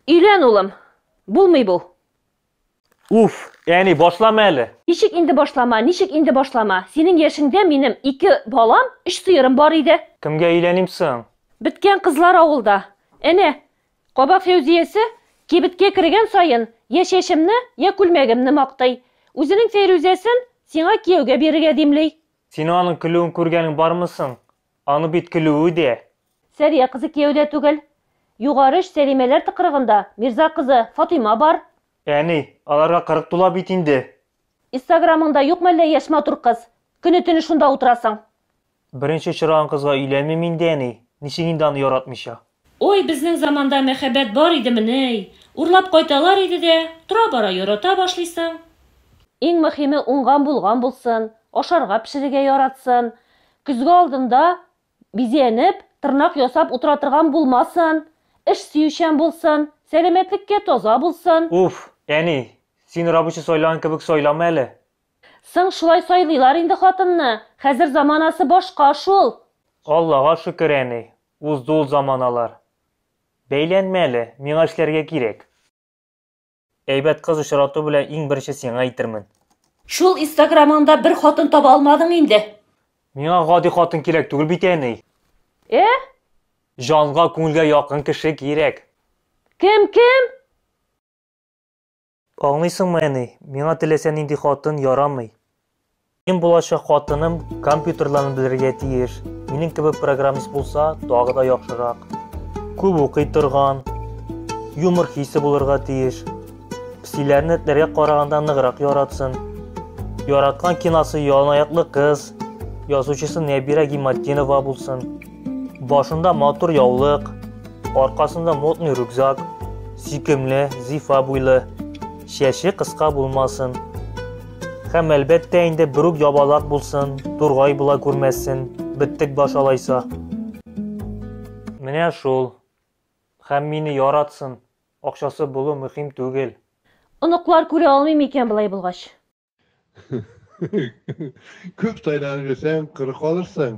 Өйлән, улым. Булмый бу. Уф, әни, башлама әле. Ничек инде башлама, ничек инде башлама? Синең яшеңдә минем ике балам, өч сыерым бар иде. Кемгә өйләним соң? Беткән кызлар авылда. Әнә, кабак Фәүзиясе кибеткә кергән саен я чәчемне, я күлмәгемне мактый. Үзенең Фәйрүзәсен сиңа кияүгә бирергә димли. Син аның көлүен күргәнең бармы соң? Аның бит көлүе дә. Сәрия кызы кияүдә түгел. Югары өч Сәлимәләр тыкрыгында Мирза кызы Фатыйма бар. Әни, аларга кырык тула бит инде. Истаграмыңда юк мәллә яшь матур кыз? Көне-төне шунда утырасың. Беренче очраган кызга өйләнмим инде, әни. Ничек инде аны яратмыйча. Ой, безнең заманда мәхәббәт бар идемени, урлап кайталар иде дә, тора-бара ярата башлыйсың. Иң мөхиме уңган-булган булсын, ашарга-пешерергә яратсын, көзге алдында бизәнеп, тырнак ясап утыра торган булмасын, эш сөючән булсын, сәламәтлеккә таза булсын. Уф, әни, син рабочий сайлаган кебек сайлама әле. Соң шулай сайлыйлар инде хатынны, хәзер заманасы башка шул. Аллага шөкер, әни, Узды ул заманалар. Бәйләнмә әле, миңа эшләргә кирәк. Әйбәт кыз очрату белән иң беренче сиңа әйтермен. Шул инстаграмыңда бер хатын таба алмадың инде? Миңа гади хатын кирәк түгел бит, әни. Э? Җанга, күңелгә якын кеше кирәк. Кем, кем? Аңлыйсыңмы, әни, миңа теләсә нинди хатын ярамый. Минем булачак хатыным компьютерларны белергә тиеш. Минем кебек программист булса, тагы да яхшырак. Күп укый торган, юмор хисе булырга тиеш. Псиләрне этләргә караганда ныграк яратсын. Яраткан киносы Яланаяклы кыз, язучысы Нәбирә Гиматдинова булсын. Башында матур яулык, аркасында модный рюкзак, сөйкемле, зифа буйлы, чәче кыска булмасын. Һәм әлбәттә инде берүк ябалак булсын, тургай була күрмәсен, биттек баш алайса. Менә шул. Һәм мине яратсын. Акчасы булу мөһим түгел. Оныклар күрә алмыймы икән болай булгач? Күп сайланып йөрсәң, коры калырсың.